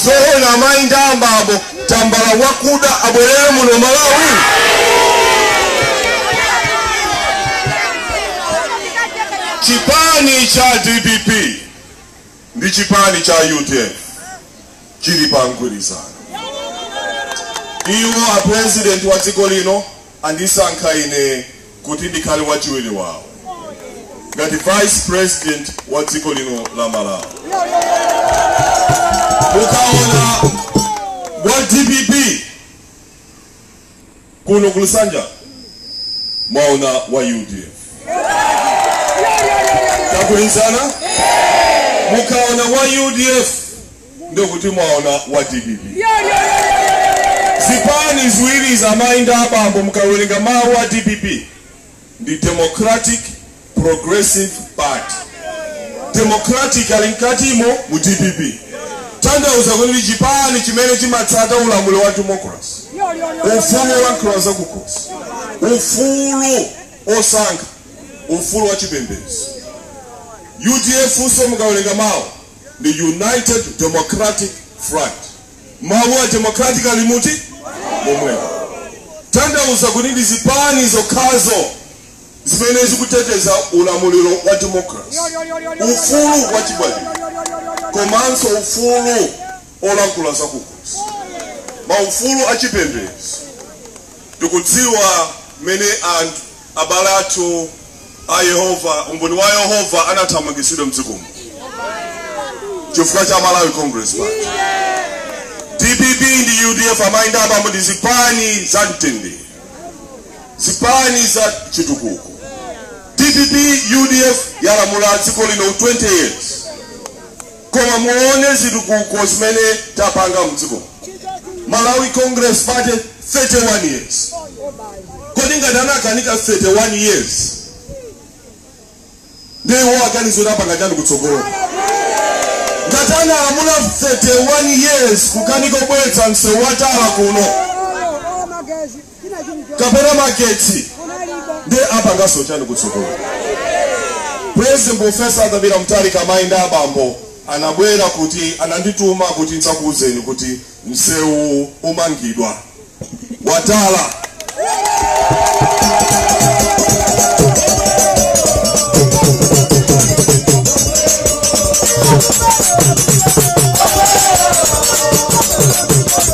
Zoona amayi ndi abambo. tambala wakuda abwerere muno malawi chipani cha dpp ndi chipani cha utm chili pa mgwirizano iwo a president wa dziko lino andisankha ine kuti ndikhale wachiwiri wawo ngati vice president wa dziko lino la Malawi. Mukaona wa dpp kuno ku Lusanja mwaona wa UDF tagwirizana, mukaona wa UDF ndiye kuti mwaona wa dpp zipani ziwirizi amayi ndi abambo mukawerenga mawu a dpp ndi democratic progressive party democratic ali mkatimo mu dpp tanthauza kuti ndi chipani chimene chimatsata ulamuliro wa democracy ufulu olankhula za kukhosi ufulu osankha ufulu wa chipembedzo udf so mukawerenga mawu ndi United Democratic Front. Mawu a democratic alimuti momwemo, tanthauza kuti ndi zipani zokhazo zimene zikuteteza ulamuliro wa democracy, ufulu wa chibadwidwe komanso ufulu olankhula zakukhosi, maufulu a chipembedzo. Tikudziwa mmene anthu abale athu a Yehova, umboni wa Yehova anathamangitsidwa mdziko muno chifukwa cha Malawi Congress Party. DPP ndi UDF amayi ndi abambo ndi zipani za mtendere, zipani za chitukuko. DPP UDF yalamula dziko lino 20 years koma muone chitukuko chimene tapanga mdziko malawi congress party 31 years kodi ngati anakanika 31 years ndiye iwo akuganiza kuti apanga chani kutsogolo ngati analamula 31 years kukanika kubweretsa msewu watala kuno kapena magetsi nde apanganso chani kutsogolo president profesa Arthur Peter Mutharika amayi ndi abambo anabwera kuti anandituma kuti ndidzakuwuzeni kuti msewu umangidwa watala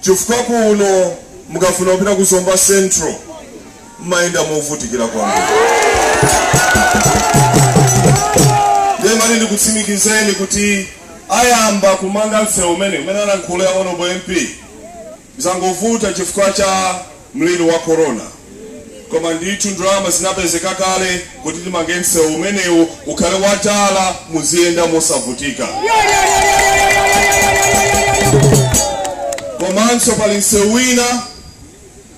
chifukwa kuno mukafuna kupita ku zomba central mumayenda movutikira kwambiri nde amayi ndikutsimikizeni kuti ayamba kumanga msewu umeneu umene alankhula a Honourable MP zangovuta chifukwa cha mliri wa corona koma ndithu ndalama zinapezeka kale kuti timange msewu umenewu ukhale wa tala muziyenda mosavutika komanso pali msewu wina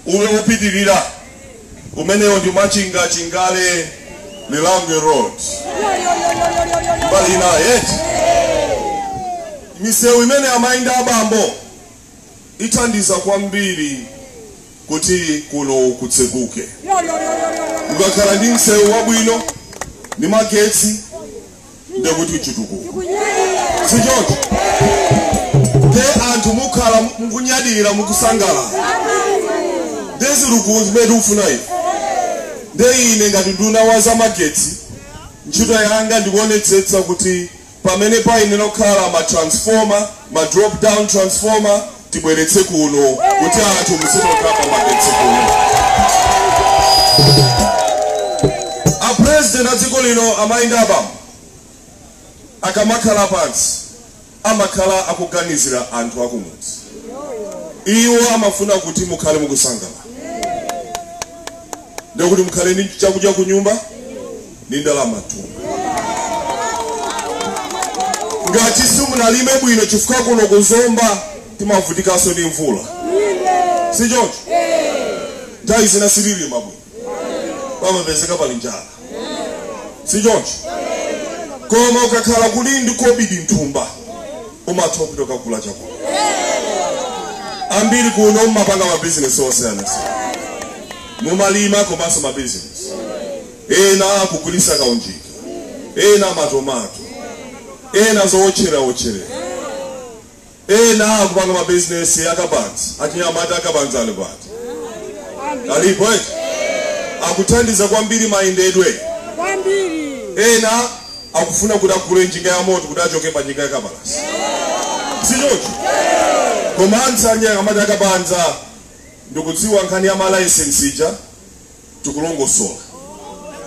uwu upitirira umenewo ndi machinga chingale lirangwe road mbali inayi eti misewu imeneyi amayi ndi abambo ithandiza kwambiri kuti kuno kutseguke ukakhala ndi msewu wabwino ndi magetsi ndekuti chitukuko sichoncho nde anthu mukhala mukunyadira mukusangalala nde zikuluzikulu zimene tikufuna ife nde ine ngati nduna wa zamagetsi ntchito yanga ndikuonetsetsa kuti pamene payenera kukhala ma transformer, ma drop down transformer tibweretse kuno kuti anthu muzitokhala ndi magetsi kuno. A president a dziko lino amayi ndi abambo akamakhala pansi amakhala akuganizira anthu akumudzi iwo amafuna kuti mukhale mukusangalala ndikuti mukhale ndi chakudya ku nyumba ndi ndalamatu ngati simunalime bwino chifukwa kuno ku Zomba timavutikanso ndi mvula si choncho nthawi zina sitilima bwino pamapezeka pali njala si choncho koma ukakhala uli ndi kobidi nthumba umatha kupita kukagula chakula ambiri kuno mumapanga mabizinesi osiyanasiyana mumalima komanso mabizinesi ena akugulitsa kaunjika, ena matomato, ena zootchelera otchelera, ena akupanga ma business a kabanza, anyamata a kabanza ali kuti alipo eti akuthandiza kwambiri mayendedwe kwambiri ena akufuna kuti agule njinga ya moto kuti achoke pa njinga ya kapalasa si choncho komanso anyamata a kabanza ndikudziwa nkhani ya malayisensi ija tikulongosola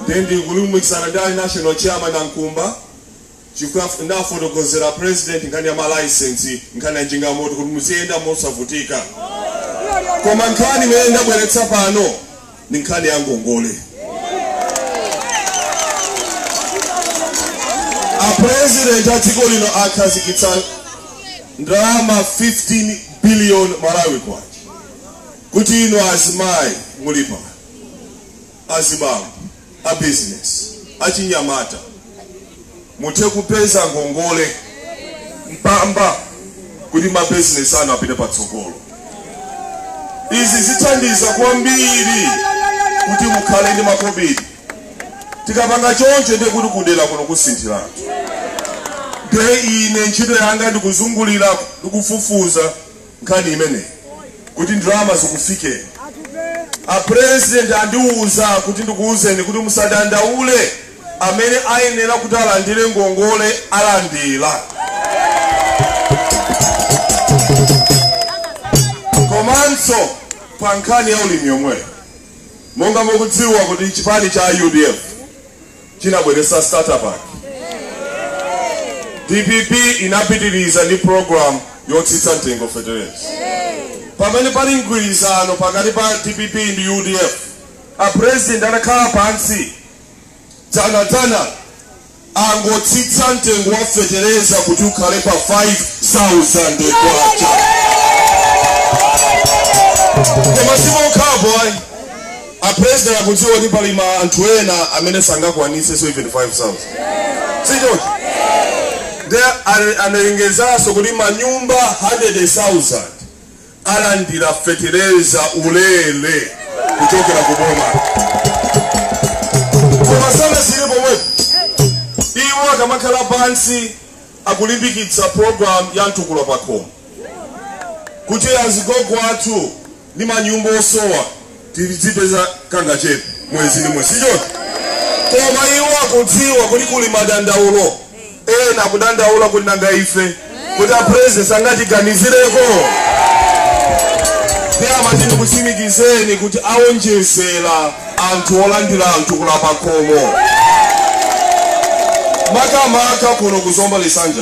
ndiye ndikulumikizana ndi a national chairman a Mkumba chifukwa ndafotokozera president nkhani ya malaisensi nkhani ya njinga yamoto kuti muziyenda mosavutika koma nkhani imene ndabweretsa pano ndi nkhani ya ngongole apresident a dziko lino akhazikitsa ndalama 15 billion malawi kwacha kuti inu azimayi muli pano, azibambo, a business, achinyamata muthe kupeza ngongole mpamba kuti ma business anu apite patsogolo. Izi zithandiza kwambiri kuti mukhale ndi makobidi. Tikapanga choncho ndiye kuti kudera kuno kusinthiratu. Ndiye ine ntchito yanga ndikuzungulira ndikufufuza nkhani imeneyi kuti ndalama zikufikeni. A President andiuza kuti ndikuuzeni kuti musadandaule amene ayenera kuti alandire ngongole alandira. Komanso pa nkhani ya ulimi yomweyo monga mukudziwa kuti chipani cha UDF chinabweretsa starter pack. Dpp inapitiriza ndi program yotsitsa mtengo wa fetereza. Pamene pali mgwirizano pakati pa dpp ndi udf, a president anakhala pansi dzanadzana angotsitsa mtengo wa fetereza kuti ukhale pa 5000 kwacha koma si pokhapo ayi A president akudziwa kuti pali ma anthu ena amene sangakwanitse even 5000. Sichoncho. Nde ale- analengezanso kuti manyumba 100,000 alandira fetereza ulele kuchokera ku boma. Koma sanasiyire pomwepo. Iwo akamakhala pansi akulimbikitsa program ya mtukula pakhomo. Kuti azigogo athu ndi manyumba osowa tizipeza kangachepe mwezi ndi mwezi sichoncho koma iwo akudziwa kuti kuli madandaulo ena akudandaula kuti nanga ife koma apresident sangatiganizireko ndimati ndikutsimikizeni kuti awonjezera anthu olandira mtukula pakhomo makamaka kuno kuzomba lisanja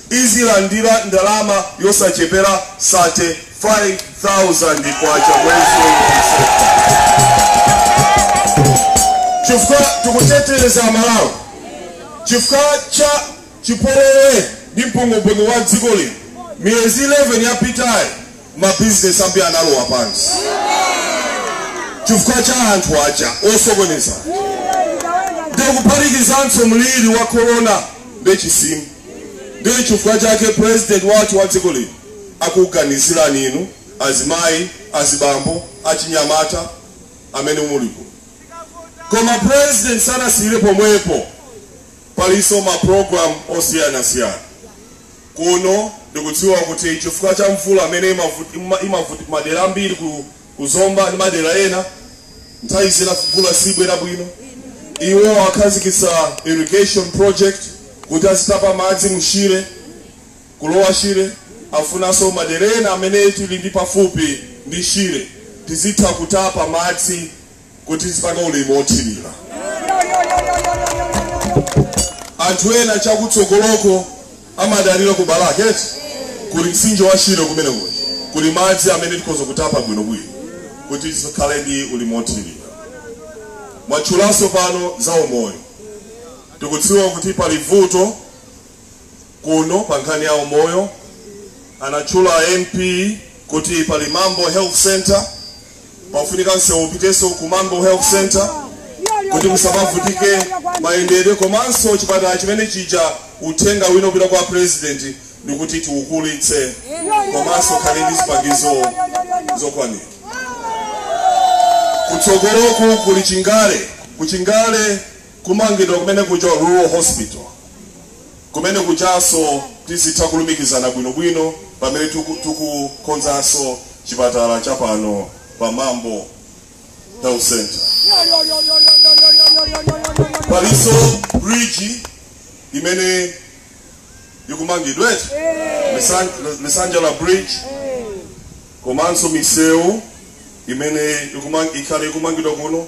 azilandira ndalama yosachepera K35,000 mwezi uliwonse chifukwa tikutetereza Amalawi chifukwa cha chipolowe ndi mpungwepungwe wa dziko lino. Miyezi 11 yapitayi mabizinesi ambiri analowa pansi chifukwa cha anthu aja osokoneza ndikuphatikizanso mliri wa korona ndi chisimu. Ndichifukwa chake president wathu wa dziko lino akuganizirani inu azimayi, azibambo, achinyamata amene muli kuno. Koma president sanasiyile pomwepo palinso ma program osiyanasiyana kuno. Ndikudziwa kuti chifukwa cha mvula imene imavuta kumadera ambiri ku. ku zomba ndi madera ena nthawi zina mvula sibwera bwino iwo akhazikitsa irrigation project kuti azitapa madzi mushire kulowa shire akufunanso madera ena amene tili ndi pafupi ndi shire tizitha kutapa madzi kuti tizipanga ulimi wothirira anthu ena chakutsogoloko amadalira ku balaka eti kuli mtsinje wa shire kumeneko kuli madzi amene tikhoza kutapa bwinobwino kuti tizikhala ndi ulimi wothirira mwatchulanso pano za umoyo tikudziwa kuti pali vuto kuno pa nkhani ya umoyo anatchula MP kuti pali Mambo Health Center pakufunika nsewu upitenso ku Mambo Health Center kuti musamavutike mayendedwe komanso chipatala chimene chija uthenga uno upita kwa president ndikuti tichikulitse komanso chikhale ndi zipangizo zokwanira kutsogoloku kuli chingale kuchingale Kumangidwa kumene kuja rural hospital kumene kujaso tizitha kulumikizana bwino bwino pamene tuku tuku konzaso chipatala cha pano pa Mambo health center. Paliso bridge imene ikumangidwe Misan, misanja la bridge komanso miseu imene ikumang, ikhale ikumangidwa kuno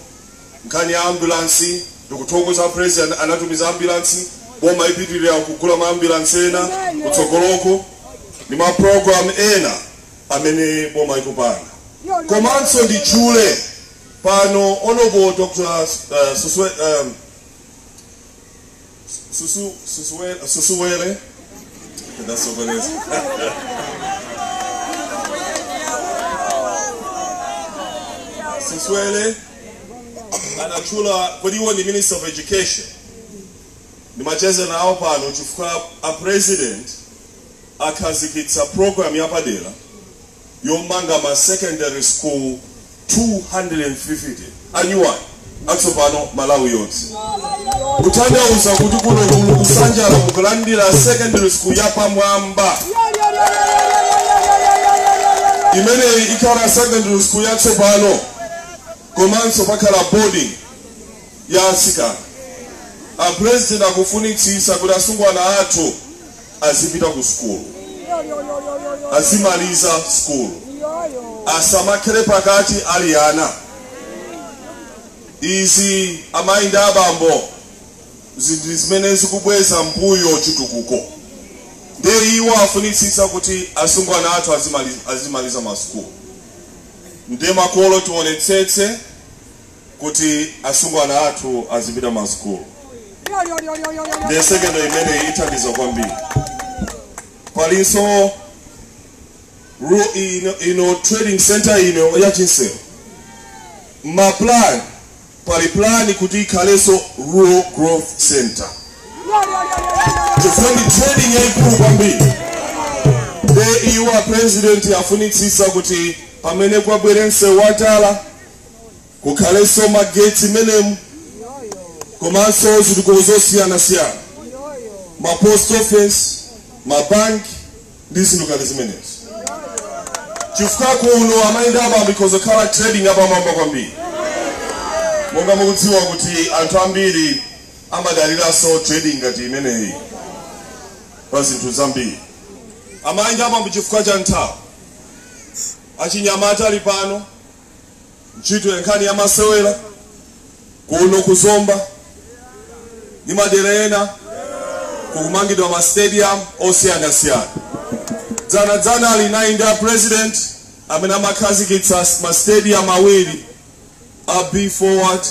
Nkhani ya ambulance ndikuthokoza president anatumiza ambulance boma ipitilira kugula ma ambulance ena kutsogoloko ndi ma program ena amene boma ikupanga komanso nditchule pano honorable Dr. Uh, Suswe, um, Susu, Susuwele, Susuwele. Susuwele anatchula kuti iwo ndi minister of education ndimacheza nawo pano chifukwa a president akhazikitsa program yapadera yomanga ma secondary school 250 anyuwani atsopano Malawi yonse kutanthauza kuti kuno kuno ku Misanjala mukulandira secondary school yapamwamba imeneyi ikhala secondary school yatsopano komanso pakhala boarding ya atsikana. A President akufunitsitsa kuti asungwana athu azipita ku sukulu, azimaliza sukulu, asamakhale ndi pakati ali ana. Izi amayi ndi abambo ndi zinthu zimene zikubweza mbuyo chitukuko ndiye iwo afunitsitsa kuti asungwana athu azimaliza, azimaliza masukulu ndiye makolo tionetsetse kuti asungwana athu azipita masukulu ndi secondary imeneyi ithandiza kwambiri palinso ru ino, ino trading center ino ya Chinselo ma plan pali plan kuti ikhalenso rural growth center chifukwa ndi trading yaikulu kwambiri nde iwo a president afunitsisa kuti pamene kubwerenso wa tala kukhalenso magetsi menemu komanso zitukuko zosiyanasiyana ma post office mabanki ndi zinthu ngati zimenezi chifukwa kuno amayi ndi abambo ikhoza kukhala trading yapamwamba kwambiri monga mukudziwa kuti anthu ambiri amadaliranso trading ngati imeneyi pa zinthu zambiri amayi ndi abambo chifukwa cha nthawi achinyamata ali pano ntchito ya nkhani ya masewera kuno ku Zomba ndi madera ena kukumangidwa ma stadium osiyanasiyana. Dzana dzana alinayi ndi a president amene amakhazikitsa ma stadium awiri a Be Forward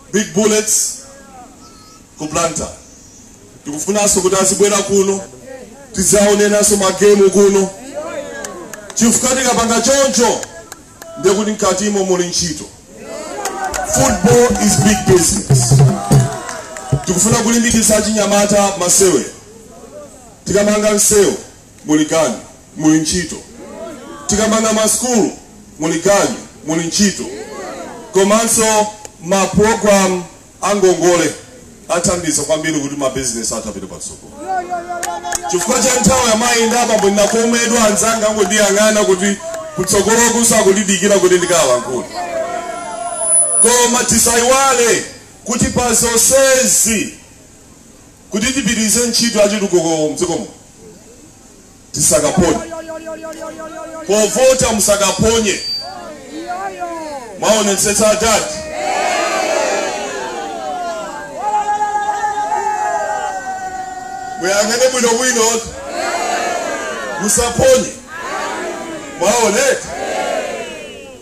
ndi Big Bullets ku blantyre tikufunanso kuti azibwera kuno tidzaonenanso magemu kuno chifukwa tikapanga choncho ndiye kuti mkatimo muli ntchito football is big business tikufuna kulimbikitsa achinyamata masewera tikamanga msewu muli ganyu muli ntchito. Tikamanga ma sukulu muli ganyu muli ntchito. Komanso ma program a ngongole athandiza kwambiri kuti ma business athu apite patsogolo. Chifukwa cha nthawi amayi ndi abambo ndikakomedwa anzanga angondiyang'ana kuti kutsogoloku akundidikira kuti ndikalankhule. Koma tisaiwale kuti pa zonsezi Kuti tipitilize ntchito ya chitukuko mdziko muno tisakaphonye povota musakaphonye mwaonetsetsa adadi? Muyang'ane bwino bwino musaphonye mwaona eti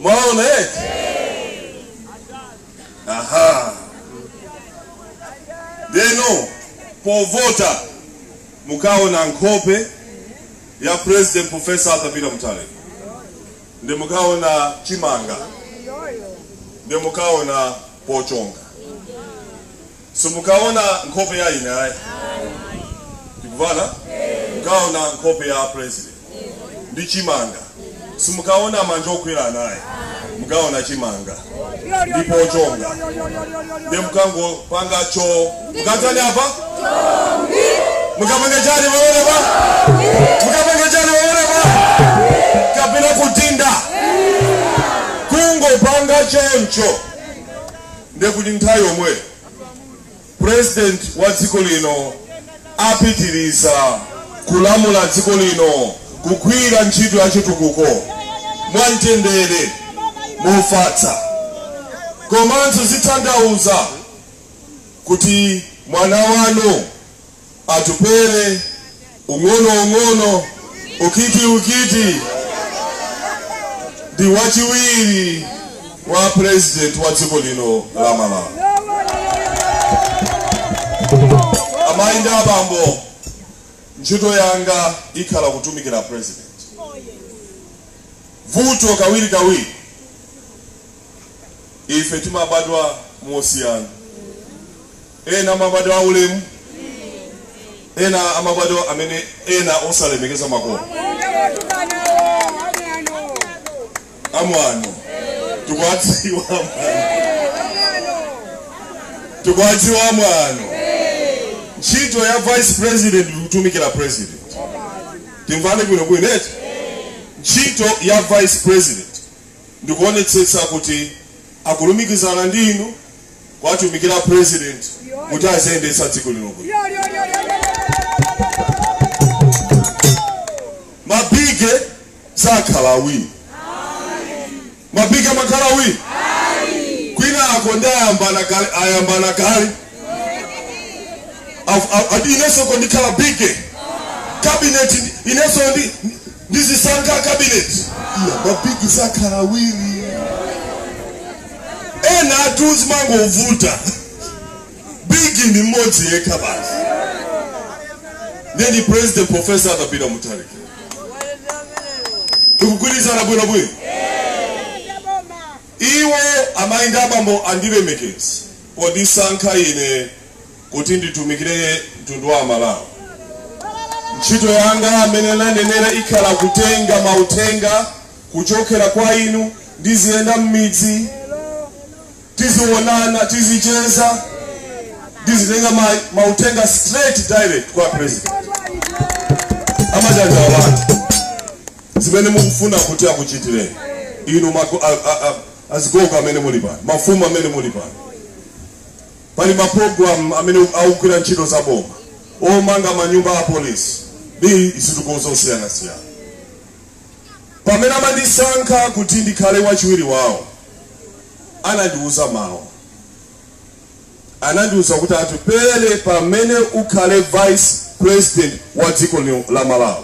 mwaona eti. aha ndeno povota mukaona nkhope ya president professor arthur peter mutharika nde mukaona chimanga nde mukaona pochonga Simukaona nkhope ya ine ayi. Tikumvana? Mukaona nkhope ya president ndi chimanga. Simukaona manja okwera anayi. Mukaona chimanga nde pochonga. Ndiye mukangopanga cho. Mukatani apa? Mukapanga chani waone pa? Mukapanga chani waone pa? Kapena kudinda. Kungopanga choncho. Nde kuti nthawi yomweyo president wa dziko lino apitiliza kulamula dziko lino kugwira ntchito ya chitukuko mwa mtendere, mofatsa komanso zitanthauza kuti mwana wanu. Atupele, Ung'ono Ung'ono, Ukiti Ukiti ndi wachiwiri wa president wa dziko lino la Malawi. Amayi ndi abambo, ntchito yanga ikhala kutumikira president. Vuto kawiri kawiri ife timabadwa mosiyana Ena amabadwa aulemu, ena amabadwa amene ena osalemekeza makolo. Amwano tikuwadziwa, amwano tikuwadziwa, amwano. Ntchito ya vice president ndi kutumikira president. Timvane bwino bwino eti. Ntchito ya vice president ndikuonetsetsa kuti akulumikizana ndi inu kuwatumikira president kuti aziyendetsa dziko lino bwino mabigi sakhala awiri mabigi amakhala awiri kwinako ndi ayambana kale ayambana kale Af- af- ati inenso ndikhala bigi kabineti ndi- inenso ndi ndizisankha cabinet iya mabigi sakhala awiri enatu zimangovuta bigi ndi mmodzi yekha basi nde ndi president professor Arthur Peter Mutharika tikugwirizana bwino bwino iwo amayi ndi abambo andilemekeza pondisankha ine kuti nditumikire mtundu wa amalawi ntchito yanga m'mene ananenera ikhala kutenga mauthenga kuchokera kwa inu ndiziyenda m'midzi tizionana tizicheza ndizitenga ma, mauthenga straight direct kwa president a Mjanja awanthu zimene mukufuna kuti akuchitireni inu mago- a- a- a- azigogo amene muli pano mafumu amene muli pano Pali ma program amene akugwira ntchito za boma omanga manyumba a apolice ndi zitukuko zosiyanasiyana. Pamene amandisankha kuti ndikhale wachiwiri wawo anandiuza mawu. Anandiuza kuti Atupele pamene ukhale vice president wa dziko lino la Malawi.